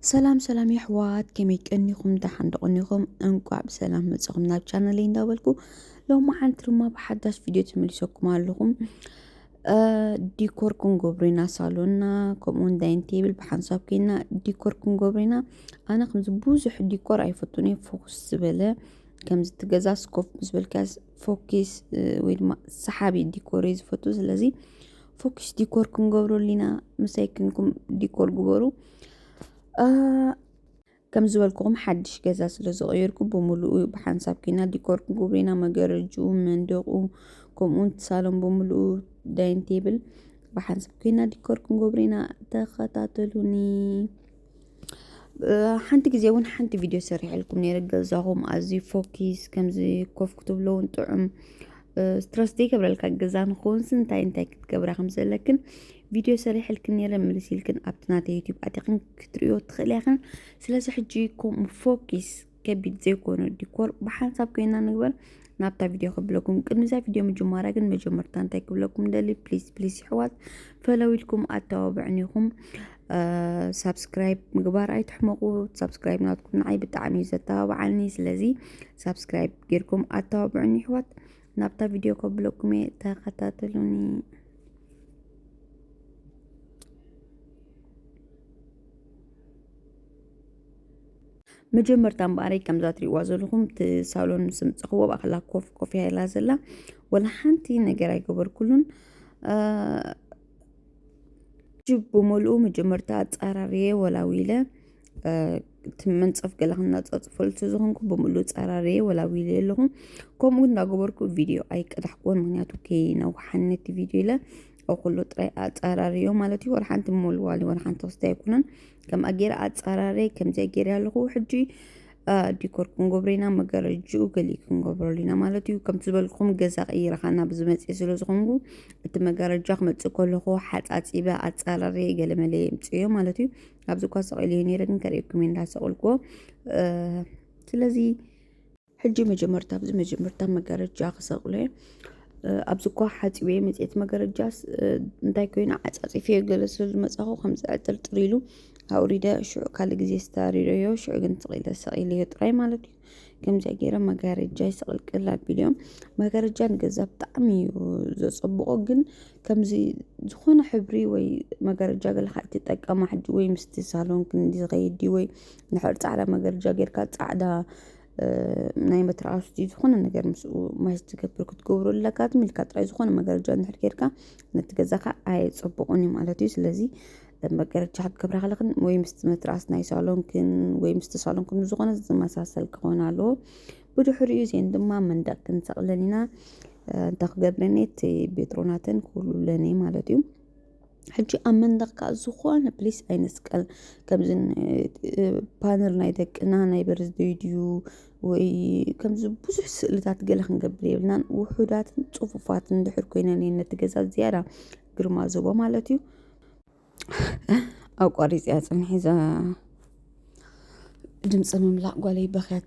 ሰላም ሰላም የሕዋት ከመይ ቀኒኹም ደሓን ዶ ቀኒኹም እንቋዕ ብሰላም መጻኹም ናብ ቻናለይ እንዳበልኩ ሎማዓንቲ ድማ ብሓዳሽ ቪድዮ ተመሊሰኩም ኣለኹም ዲኮር ክንገብሮ ኢና ሳሎና ከምኡውን ዳይን ቴብል ብሓንሳብ ኮይና ዲኮር ክንገብሮ ኢና ኣነ ከምዚ ብዙሕ ዲኮር ኣይፈቱን እየ ፎኩስ ዝበለ ከምዚ እቲ ገዛ ስኮፍ ምስ በልካ ፎኪስ ወይ ድማ ሰሓቢ ዲኮር እዩ ዝፈቱ ስለዚ ፎኪስ ዲኮር ክንገብረሉ ኢና ምሳይ ክንኩም ዲኮር ግበሩ ከም ዝበልኩኹም ሓድሽ ገዛ ስለ ዝቐየርኩ ብምሉኡ ብሓንሳብ ኩና ዲኮር ክንገብሩ ኢና መገረጅኡ መንደቑ ከምኡውን ሳሎን ብምሉኡ ዳይን ቴብል ብሓንሳብ ኩና ዲኮር ክንገብሩ ኢና ተኸታተሉኒ ሓንቲ ግዜ እውን ሓንቲ ቪድዮ ሰሪሐልኩም ነይረ ገዛኹም ኣዝዩ ፎኪስ ከምዚ ኮፍ ክትብሎ እውን ጥዑም ስትረስ ዘይገብረልካ ገዛ ንክውንስ እንታይ እንታይ ክትገብራ ከም ዘለክን ቪድዮ ሰሪሐልክን ነይረ ምልስ ኢልክን ኣብቲ ናተ ዩቲብ ኣቲኽን ክትሪዮ ትኽእልያ ክን ስለዚ ሕጂ ፎኪስ ከቢድ ዘይኮነ ዲኮር ብሓንሳብ ኮይና ንግበር ናብታ ቪድዮ ክብለኩም ቅድሚዛ ቪድዮ ምጅማራ ግን መጀመርታ እንታይ ክብለኩም ደሊ ፕሊዝ ፕሊዝ ይሕዋት ፈለው ኢልኩም ኣተባብዕን ኢኹም ሳብስክራይብ ምግባር ኣይትሕመቑ ሳብስክራይብ ናትኩም ንዓይ ብጣዕሚ እዩ ዘተባብዓኒ ስለዚ ሳብስክራይብ ጌርኩም ኣተባብዕን ይሕዋት ናብታ ቪድዮ ከብለኩም እየ ተኸታተሉኒ መጀመርታ እምበኣረይ ከምዛ ትሪእዋ ዘለኹም እቲ ሳሎን ምስ ምፀኽዎ ኣብኣ ከላ ኮፍ ኮፍ እያ ኢላ ዘላ ወላ ሓንቲ ነገር ኣይገበርኩሉን ጅብ ብምልኡ መጀመርታ ኣፃራርየ ወላዊለ እቲ መንፀፍ ገለ ክናፃፅፈሉ ስለዝኾንኩ ብምሉእ ፀራርየ ወላዊለ ኣለኹ ከምኡ እንዳገበርኩ ቪድዮ ኣይቀዳሕኩዎን ምክንያቱ ከይነውሓኒ እቲ ቪድዮ ኢለ ኣብ ኩሉ ጥራይ ኣፃራርዮ ማለት እዩ ወላ ሓንቲ ምወልዋሊ ወላ ሓንቲ ክስቲ ኣይኮነን ከምኣ ገይረ ኣፃራረ ከምዚኣ ገይረ ኣለኹ ሕጂ ዲኮር ክንገብሮ ኢና መጋረጅኡ ገሊእ ክንገብረሉ ኢና ማለት እዩ ከምቲ ዝበልኩም ገዛ ቀይረኻ ናብ ዝመፅእ ስለ ዝኾንኩ እቲ መጋረጃ ክመፅእ ከለኹ ሓፃፂበ ኣፃራረ ገለመለ የምፅዮ ማለት እዩ ኣብዚ እኳ ሰቂለዮ ነይረ ግን ከርእየኩም እየ እንዳሰቀልኩዎ ስለዚ ሕጂ መጀመርታ ኣብዚ መጀመርታ መጋረጃ ክሰቅሎ ኣብዚ እኳ ሓፂበየ መፅት መጋረጃስ እንታይ ኮይኑ ዓፃፂፈዮ ገለ ስለ ዝመፃኹ ከምዚ ዕጥርጥር ኢሉ ኣውሪደ ሽዑ ካልእ ግዜ ስታሪረዮ ሽዑ ግን ትቂለ ሰቂለዮ ጥራይ ማለት እዩ ከምዚኣ ገይረ መጋረጃ ይሰቅልቅል ኣቢሉ እዮም መጋረጃ ንገዛ ብጣዕሚ እዩ ዘፀብቆ ግን ከምዚ ዝኾነ ሕብሪ ወይ መጋረጃ ገለካ ኣይትጠቀማ ሕጂ ወይ ምስቲ ሳሎን ክንዲ ዝኸይድ ድዩ ወይ ንድሕር ፃዕዳ መጋረጃ ጌርካ ፃዕዳ ናይ መትርኣስ ዝኾነ ነገር ምስኡ ማይ ዝትገብር ክትገብሩ ኣለካ ትምልካ ጥራይ ዝኾነ መገረጃ እንድሕር ጌርካ ነቲ ገዛኻ ኣየጸብቑን እዩ ማለት እዩ ስለዚ መገረጃ ክትገብራ ከለኽን ወይ ምስቲ መትርኣስ ናይ ሳሎንክን ወይ ምስቲ ሳሎንክን ዝኾነ ዝመሳሰል ክኾን ኣለዎ ብድሕሪኡ እዚአን ድማ መንደቅ ክንሰቕለን ኢና እንተ ክገብረኒ እቲ ቤትሮናተን ክህሉለን እየ ማለት እዩ ሕጂ ኣብ መንደቕ ከዓ ዝኾነ ፕሊስ ኣይንስቀል ከምዚ ፓነር ናይ ደቅና ናይ በርዝደይ ድዩ ወይ ከምዚ ብዙሕ ስእልታት ገለ ክንገብር የብልናን ውሑዳትን ፅፉፋትን ድሕር ኮይነን እየን ነቲ ገዛ ዝያዳ ግርማ ዝህቦ ማለት እዩ ኣቋሪፂያ ፅንሒዛ ድምፂ ምምላቕ ጓለይ በኽያ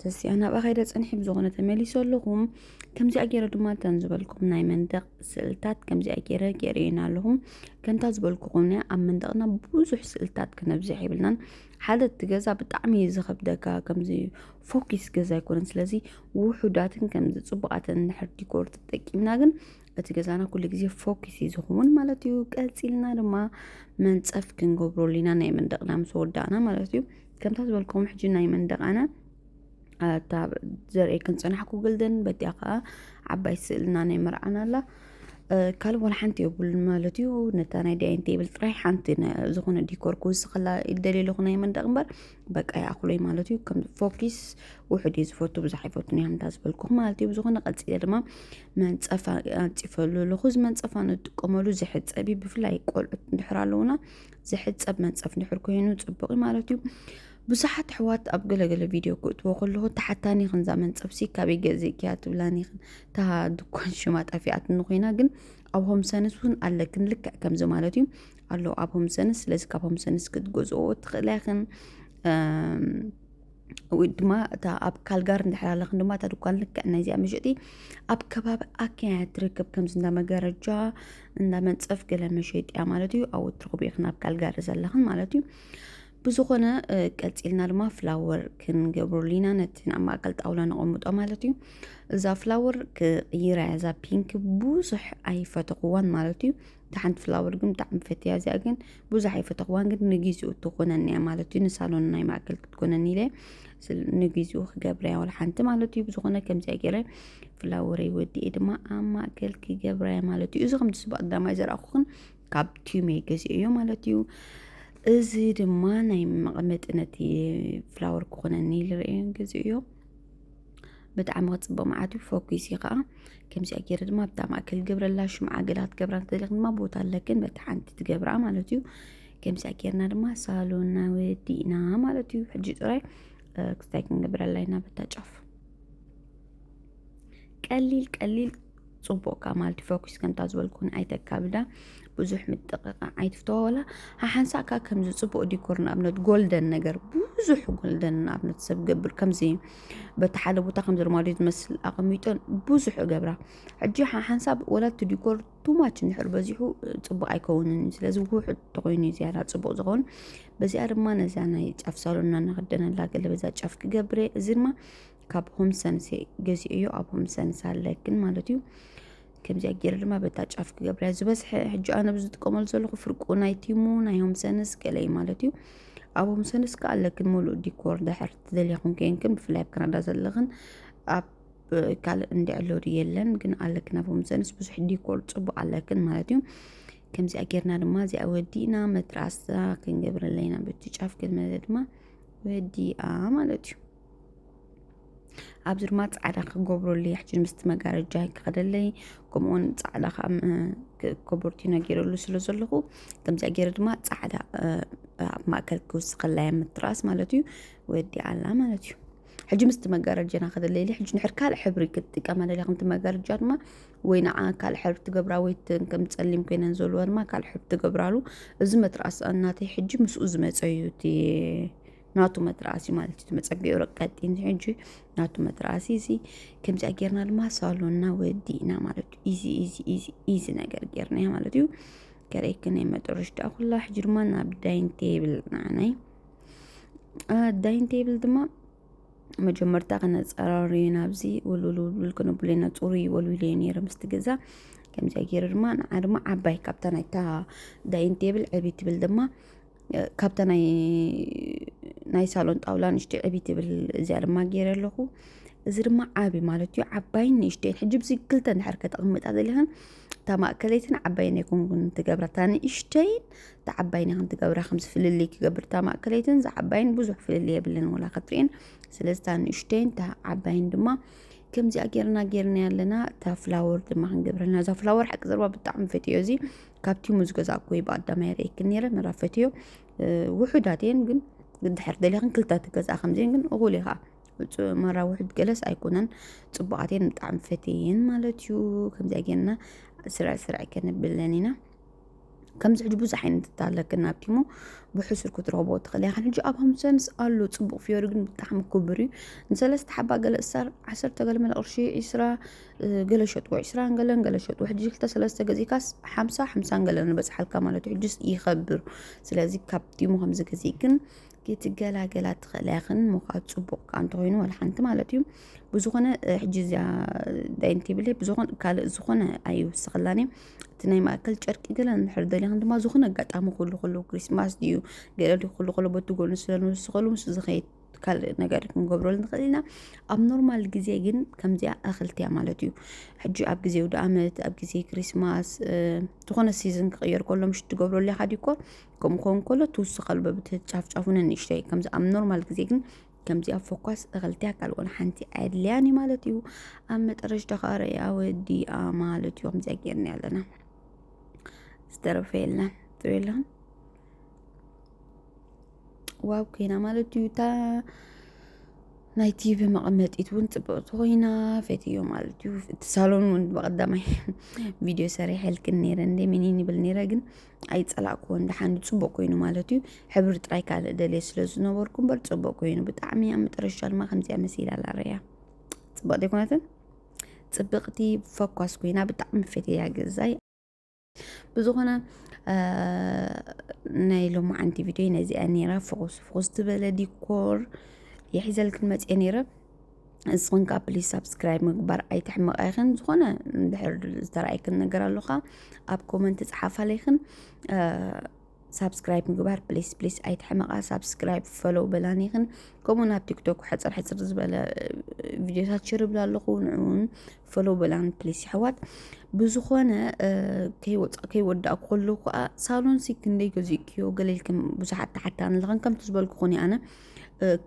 ተስያ ናብኣ ከይደ ፀንሒ ብዝኾነ ተመሊሶ ኣለኹም ከምዚኣ ገይረ ድማ እተን ዝበልኩም ናይ መንደቕ ስእልታት ከምዚኣ ገይረ ገይረየን ኣለኹ ከምታ ዝበልኩ ኮነ ኣብ መንደቕና ብዙሕ ስእልታት ክነብዝሕ የብልናን ሓደ እቲ ገዛ ብጣዕሚ እዩ ዝኸብደካ ከምዚ ፎኪስ ገዛ ኣይኮነን ስለዚ ውሑዳትን ከምዚ ፅቡቃትን እንድሕር ዲኮር ተጠቂምና ግን እቲ ገዛና ኩሉ ግዜ ፎኪስ እዩ ዝኸውን ማለት እዩ ቀፂልና ድማ መንፀፍ ክንገብረሉ ኢና ናይ መንደቕና ምስ ወዳእና ማለት እዩ ከምታ ዝበልኩም ሕጂ ናይ መንደቓና ኣታ ዘርኢ ክንፅናሕኩ ግልደን በቲያ ከዓ ዓባይ ስእልና ናይ መርዓና ኣላ ካልእ ዋላ ሓንቲ የብሉን ማለት እዩ ነታ ናይ ዳይን ቴብል ጥራይ ሓንቲ ዝኾነ ዲኮር ክውስኸላ ይደልየ ኣለኹ ናይ መንደቕ እምበር በቃ ይኣኽሎይ ማለት እዩ ከም ፎኪስ ውሕድ እዩ ዝፈቱ ብዙሕ ኣይፈቱን እዮም እንዳዝበልኩኹ ማለት እዩ ብዝኾነ ቀፂለ ድማ መንፀፋ ኣንፂፈሉ ኣለኹ እዚ መንፀፋ ንጥቀመሉ ዝሕፀብ እዩ ብፍላይ ቆልዑት እንድሕር ኣለውና ዝሕፀብ መንፀፍ እንድሕር ኮይኑ ፅቡቅ እዩ ማለት እዩ ብዙሓት ኣሕዋት ኣብ ገለገለ ቪድዮ ክእትዎ ከለኹ ተሓታኒ ይኽን እዛ መንፀፍሲ ካበይ ገዚእክያ ትብላኒ ይኽን እታ ድኳን ሽማ ጠፊኣትኒ ኮይና ግን ኣብ ሆም ሰንስ እውን ኣለክን ልክዕ ከምዚ ማለት እዩ ኣሎ ኣብ ሆምሰንስ ስለዚ ካብ ሆምሰንስ ክትገዝኦ ትኽእላ ኢኽን ወይ ድማ እታ ኣብ ካልጋር እንድሕር ኣለኽን ድማ እታ ድኳን ልክዕ ናይዚኣ መሸጢ ኣብ ከባቢ ኣኪያ ትርከብ ከምዚ እንዳ መጋረጃ እንዳ መንፀፍ ገለ መሸጢ እያ ማለት እዩ ኣብኡ ትረኽቡ ኢኽን ኣብ ካልጋሪ ዘለኽን ማለት እዩ ብዝኾነ እ፣ ቀፂልና ድማ ፍላወር ክንገብረሉ ኢና ነቲ ናብ ማእከል ጣውላ ነቐምጦ ማለት እዩ እዛ ፍላወር ክቕይራ እያ እዛ ፒንክ ብዙሕ ኣይፈተኽዋን ማለት እዩ እታ ሓንቲ ፍላወር ግን ብጣዕሚ ፈትያ እዚኣ ግን ብዙሕ ኣይፈተኽዋን ግን ንግዚኡ ትኾነኒ እያ ማለት እዩ ንሳሎን ናይ ማእከል ክትኮነኒ ኢለ ስል- ንግዚኡ ክገብረ እያ ዋላ ሓንቲ ማለት እዩ ብዝኾነ ከምዚኣ ገይረ ፍላወረይ ወዲኤ ድማ ኣብ ማእከል ክገብረ እያ ማለት እዩ እዚ ከምቲ ስብ ኣዳማይ ዘረኣኹኽን ካብ ቲሜ ገዚኦ እዮ ማለት እዩ እዚ ድማ ናይ መቐመጢ ነቲ ፍላወር ክኾነኒ ኢለ ርእየን ገዚኦ እዮ ብጣዕሚ ክፅብቕ መዓት እዩ ፎኪስ እዩ ከዓ ከምዚኣ ገይረ ድማ ኣብታ ማእከል ገብረላ ሽምዓ ገላ ክትገብራ ትኽእሊ ድማ ቦታ ኣለክን በቲ ሓንቲ ትገብራ ማለት እዩ ከምዚኣ ገይርና ድማ ሳሎና ወዲእና ማለት እዩ ሕጂ ጥራይ ክስታይ ክንገብረላ ኢና በታ ጫፍ ቀሊል ቀሊል ጽቡቅ ከኣ ማልቲ ፎኩስ ከምታ ዝበልኩን ኣይተካብዳ ብዙሕ ምጥቕቃ ኣይትፍተዋ ወላ ሓሓንሳእ ከኣ ከምዚ ጽቡቅ ዲኮር ንኣብነት ጎልደን ነገር ብዙሕ ጎልደን ንኣብነት ሰብ ገብር ከምዚ በቲ ሓደ ቦታ ከምዚ ርማዶ ዝመስል ኣቐሚጦን ብዙሕ እገብራ ሕጂ ሓሓንሳብ ወላ እቲ ዲኮር ቱማች እንድሕር በዚሑ ጽቡቅ ኣይከውንን እዩ ስለዚ ውሑድ ተኮይኑ እዩ ዝያዳ ጽቡቅ ዝኸውን በዚኣ ድማ ነዛ ናይ ጫፍ ሳሎና እናኸደነላ ገለ በዛ ጫፍ ክገብረ እዚ ድማ ካብ ሆም ሰንስ ገዚኦዮ ኣብ ሆም ሰንስ ኣለ ግን ማለት እዩ ከምዚኣ ገይረ ድማ በታ ጫፍ ክገብርያ ዝበዝሐ ሕጂ ኣነ ብዝጥቀመሉ ዘለኹ ፍርቁ ናይ ቲሙ ናይ ሆም ሰንስ ገለ እዩ ማለት እዩ ኣብ ሆም ሰንስ ከዓ ኣለ ግን ሙሉእ ዲኮር ድሕር ትደልያ ኩን ከይንክን ብፍላይ ኣብ ካናዳ ዘለኽን ኣብ ካልእ እንድዕሎድ የለን ግን ኣለክን ኣብ ሆም ሰንስ ብዙሕ ዲኮር ፅቡቅ ኣለክን ማለት እዩ ከምዚኣ ጌርና ድማ እዚኣ ወዲእና መትራሳ ክንገብረለይና በቲ ጫፍ ክንመለ ድማ ወዲኣ ማለት እዩ ኣብዚ ድማ ፃዕዳ ክገብረሉ ይሕጂ ምስቲ መጋረጃ ክኸደለይ ከምኡውን ፃዕዳ ከዓ ኮቦርቲኖ ገይረሉ ስለ ዘለኹ ከምዚኣ ገይረ ድማ ፃዕዳ ኣብ ማእከል ክውስኸላይ ምትራስ ማለት እዩ ወዲኣላ ማለት እዩ ሕጂ ምስቲ መጋረጃና ከደለይሊ ሕጂ ንሕር ካልእ ሕብሪ ክትጥቀም ኣለለ ከምቲ መጋረጃ ድማ ወይ ንዓ ካልእ ሕብሪ ትገብራ ወይ ከም ፀሊም ኮይነን ዘለዎ ድማ ካልእ ሕብሪ ትገብራሉ እዚ መትራስ እናተይ ሕጂ ምስኡ ዝመፀ እዩ እቲ ናቱ መትራእሲ ማለት እዩ መፀገዩ ረቀጢን ሕጂ ናቱ መትራእሲ እዚ ከምዚኣ ጌርና ድማ ሳሎና ወዲእና ማለት እዩ ኢዚ ኢዚ ኢዚ ኢዚ ነገር ጌርና ማለት እዩ ገረይክ ናይ መጠረሽ ዳኣ ኩላ ሕጂ ድማ ናብ ዳይን ቴብል ንዓናይ ዳይን ቴብል ድማ መጀመርታ ከነፀራሪ ናብዚ ውልውልውልውል ክንብሉ ኢና ፅሩይ ወልዊለ ነይረ ምስቲ ገዛ ከምዚኣ ገይረ ድማ ንዓ ድማ ዓባይ ካብታ ናይታ ዳይን ቴብል ዕብይ ትብል ድማ ካብታ ናይ ናይ ሳሎን ጣውላ ንእሽተይ ዕብይ ትብል እዚኣ ድማ ገይረ ኣለኹ እዚ ድማ ዓብ ማለት እዩ ዓባይን ንእሽተይን ሕጂ ብዚ ክልተ እንድሕር ከተቕምጣ ዘለኽን እታ ማእከለይትን ዓባይን ኣይኮንኩን ትገብራ እታ ንእሽተይን እታ ዓባይን ኢኽን ትገብራ ከምዚ ፍልልይ ክገብር እታ ማእከለይትን እዛ ዓባይን ብዙሕ ፍልልይ የብለን ወላ ክትርእን ስለዚ እታ ንእሽተይን እታ ዓባይን ድማ ከምዚኣ ጌርና ጌርና ኣለና እታ ፍላወር ድማ ክንገብረልና እዛ ፍላወር ሓቂ ዘርባ ብጣዕሚ ፈትዮ እዚ ካብ ቲሙ ዝገዛእኩ ወይ ብኣዳማይ ርእየክን ነይረ መራ ፈትዮ ውሑዳት እየን ግን ድሕር ደሊኽን ክልተ ትገዛእ ከምዚን ግን እኹል ኢኻ መራ ውሑድ ገለስ ኣይኮነን ፅቡቃት እየን ብጣዕሚ ፈትየን ማለት እዩ ከምዚኣ ጌርና ስርዕ ስርዕ ከንብለን ኢና ከምዚ ሕጂ ብዙሕ ዓይነት እታለክን ናብ ቲሙ ብሕሱር ክትረኽቦ ትኽእል ኢኻ ሕጂ ኣብ ሃምሰንስ ኣሎ ፅቡቅ ፍዮሪ ግን ብጣዕሚ ክቡር እዩ ንሰለስተ ሓባ ገለ እሳር ዓሰርተ ገለ መለ ቅርሺ ዒስራ ገለ ሸጥዎ ዕስራን ገለን ገለ ሸጥዎ ሕጂ ክልተ ሰለስተ ገዚእካስ ሓምሳ ሓምሳን ገለን ንበፅሓልካ ማለት እዩ ሕጅስ ይኸብር ስለዚ ካብ ዲሞ ከምዚ ገዚእ ግን ክትገላገላ ትኽእል ያኽን ምዃድ ፅቡቕ ከዓ እንተኾይኑ ዋላ ሓንቲ ማለት እዩ ብዝኾነ ሕጂ እዚኣ ዳይን ቴብል ብዝኾነ ካልእ ዝኾነ ኣይውስኽላን እዩ እቲ ናይ ማእከል ጨርቂ ገለ ንድሕር ደሊኽን ድማ ዝኾነ ኣጋጣሚ ኩሉ ኩሉ ክሪስማስ ድዩ ገለ ድዩ ኩሉ ኩሉ በቲ ጎኑ ስለ ንውስኸሉ ምስ ዝኸይድ ካልእ ነገር ክንገብረሉ ንኽእል ኢና ኣብ ኖርማል ግዜ ግን ከምዚኣ እኽልቲ እያ ማለት እዩ ሕጂ ኣብ ግዜ ውደ ኣመት ኣብ ግዜ ክሪስማስ ዝኾነ ሲዝን ክቕየር ከሎ ምሽ ትገብረሉ ኢኻ ዲኮ ከምኡ ክኸውን ከሎ ትውስኸሉ በብቲ ጫፍጫፉ ንንእሽተይ ከምዚ ኣብ ኖርማል ግዜ ግን ከምዚኣ ፎኳስ እኽልቲ እያ ካልእ ወላ ሓንቲ ኣድልያን እዩ ማለት እዩ ኣብ መጠረሽታ ከዓ ርያ ወዲኣ ማለት እዩ ከምዚኣ ጌርና ኣለና ዝተረፈ የለን ትብለን ዋብ ኮይና ማለት እዩ እታ ናይ ቲቪ መቐመጢት እውን ፅብቕቲ ኮይና ፈትዮ ማለት እዩ እቲ ሳሎን እውን ብቐዳማይ ቪድዮ ሰሪሐልክን ነይረ እንደ ሚኒን ይብል ነይረ ግን ኣይፀላእክዎን ደሓን ፅቡቕ ኮይኑ ማለት እዩ ሕብሪ ጥራይ ካልእ ደልየ ስለ ዝነበርኩ እምበር ፅቡቕ ኮይኑ ብጣዕሚ እያ መጠረሻ ድማ ከምዚኣ መሲላ ላረያ ፅብቕቲ ኣይኮነትን ፅብቕቲ ፈኳስ ኮይና ብጣዕሚ ፈትያ ገዛይ ብዝኾነ ናይ ሎማዓንቲ ቪድዮ ነዚኣ ነይራ ፍኹስ ፍኹስ ዝበለ ዲኮር የሒዘልክን መፅኤ ነይረ ንስኹን ከዓ ፕሊዝ ሳብስክራይብ ምግባር ኣይትሕመቐ ይኽን ዝኾነ ድሕር ዝተረኣይክን ነገር ኣሎካ ኣብ ኮመንት ፀሓፋለይክን ሳብስክራይብ ምግባር ፕሊስ ፕሊስ ኣይትሕመቓ ሳብስክራይብ ፈሎው በላኒ ይኽን ከምኡ ናብ ቲክቶክ ሕፅር ሕፅር ዝበለ ቪድዮታት ሽርብላ ኣለኹ ንዕውን ፈሎው በላኒ ፕሊስ ይሕዋት ብዝኾነ ከይወፃእ ከይወዳእኩ ከለኹ ከዓ ሳሎን ሲ ክንደይ ገዚእክዮ ገለልክም ብዙሓት ተሓታኒ ኣለኽን ከምቲ ዝበልኩኹን ኣነ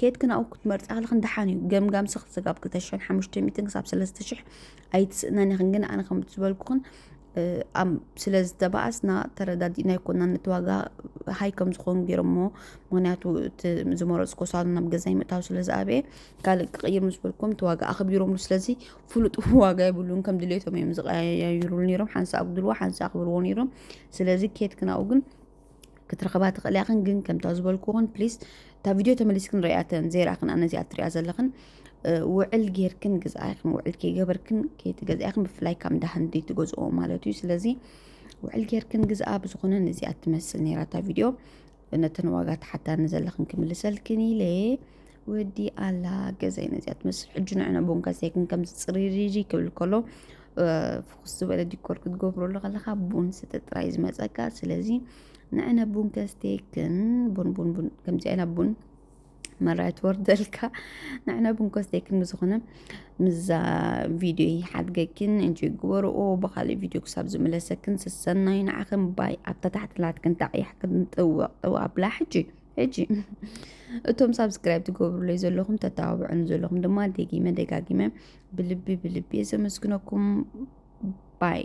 ኬት ክናኡ ክትመርፃ ከለኽን ደሓን እዩ ገምጋም ስኽ ስጋብ ክልተ ሽሕን ሓሙሽተ ሚእትን ክሳብ ሰለስተ ሽሕ ኣይትስእነን ኢኽን ግን ኣነ ከምቲ ዝበልኩኽን ስለ ዝተባኣስና ተረዳዲእና ኣይኮናን ነቲ ዋጋ ሃይ ከም ዝኾኑ ገይሮሞ ምክንያቱ እቲ ዝመረፅኮ ሳሎን ናብ ገዛይ ምእታው ስለ ዝኣበየ ካልእ ክቕይር ምስ በልኩም እቲ ዋጋ ኣኽቢሮምሉ ስለዚ ፍሉጥ ዋጋ ይብሉን ከም ድሌቶም እዮም ዝቀያይሩሉ ነይሮም ሓንሳ ኣጉድልዎ ሓንሳ ኣኽብርዎ ነይሮም ስለዚ ኬት ክናኡ ግን ክትረኽባ ትኽእላ ኢኽን ግን ከምታ ዝበልኩኽን ፕሊስ እታ ቪድዮ ተመሊስክን ርኣያተን ዘይረኣኽን ኣነ እዚኣ ትሪኣ ዘለኽን ውዕል ጌርክን ግዝኣ ኢኽን ውዕል ከይገበርክን ከይትገዝኣ ኢኽን ብፍላይ ካብ እንዳ ህንዲ ትገዝኦ ማለት እዩ ስለዚ ውዕል ጌርክን ግዝኣ ብዝኾነ ነዚኣ ትመስል ነይራ እታ ቪድዮ ነተን ዋጋ ተሓታኒ ዘለኽን ክምልሰልክን ኢለ ወዲ ኣላ ገዛይ ነዚኣ ትመስል ሕጂ ንዕና ቡን ከሰይክን ከምዚ ፅሪሪሪ ክብል ከሎ ፍኹስ ዝበለ ዲኮር ክትገብረሉ ከለኻ ቡን ስተ ጥራይ ዝመፀካ ስለዚ ንዕነ ቡን ከስተይክን ቡን ቡን ቡን ከምዚ ዓይና ቡን መራይ ትወርደልካ ንዕነ ቡን ከስተይክን ብዝኾነ ምዛ ቪድዮ ይሓድገክን እንጂ ግበርኦ ብካሊእ ቪድዮ ክሳብ ዝምለሰክን ስሰናይ ንዓኽን ባይ ኣብታ ታሕትላትክን ታዕያሕክን ጥወቅ ጥወቅ ኣብላ ሕጂ ሕጂ እቶም ሳብስክራይብ ትገብሩለይ ዘለኹም ተተባብዑኒ ዘለኹም ድማ ደጊመ ደጋጊመ ብልቢ ብልቢ እየ ዘመስግነኩም ባይ